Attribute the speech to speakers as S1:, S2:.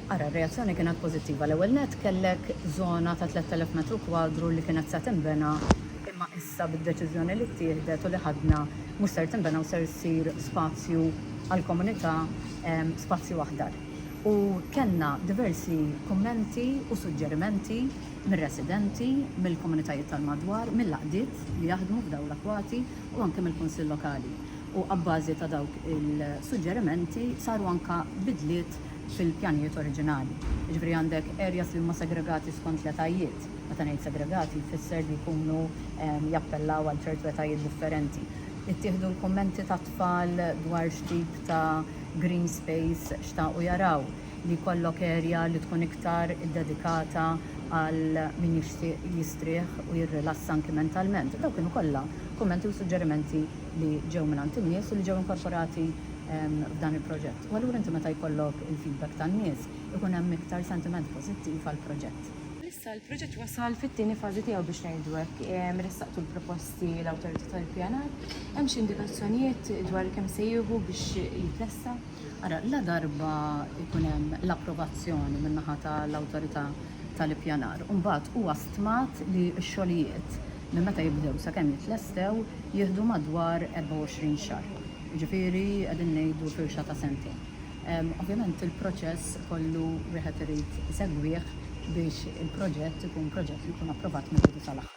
S1: Ara, r-reazzjoni kienet pożittiva. L-ewwel nett, kellek żona ta' 3,000 metru kwadru li kienet se tinbena, imma issa bid-deċiżjoni li ttieħdet u li ħadna, mhux ser tinbena u ser issir spazju għall-komunità, spazju aħdar. U kellna diversi kummenti u suġġerimenti mir-residenti, mill-komunitajiet tal-madwar, mill-għaqdiet li jaħdmu f'dawn l-akwati u anke mill-Kunsill Lokali. U abbażi ta' dawk il-suġġerimenti saru anke bidliet fil-pjanijiet oriġinali. Jiġifieri għandek areas li huma segregati skont l-etajiet. Meta ngħid segregati jfisser li jkunu jappellaw għal ċertu etajiet differenti. Ittieħdu l-kummenti tat-tfal dwar x'tip ta' green space xtaqu jaraw. Li jkollok area li tkun iktar iddedikata għal min jixtieq jistrieħ u jirrilassa anki mentalment. Dawk kienu kollha kummenti u suġġerimenti li ġew mingħand in-nies u li ġew inkorporati f'dan il-proġett. U allura inti meta jkollok il-feedback tan-nies, ikun hemm iktar sentiment pożittiv għall-proġett. Issa l-proġett
S2: wasal fit-tieni fażi tiegħu biex ngħidu hekk. Ressaqtu l-proposti l-Awtorità tal-Ippjanar. Hemm xi indikazzjonijiet dwar kemm se jieħu biex jitlesta? Ara,
S1: ladarba jkun hemm l-approvazzjoni min-naħa tal-Awtorità tal-Ippjanar, imbagħad huwa stmat li x-xogħlijiet Minn meta jibdew sakemm jitlestew jieħdu madwar 24 xahar, jiġifieri qegħdin ngħidu firxa ta' sentejn. Ovvjament il-proċess kollu wieħed irid isegwih biex il-proġett ikun proġett li jkun approvat mill-bidu sal-aħħar.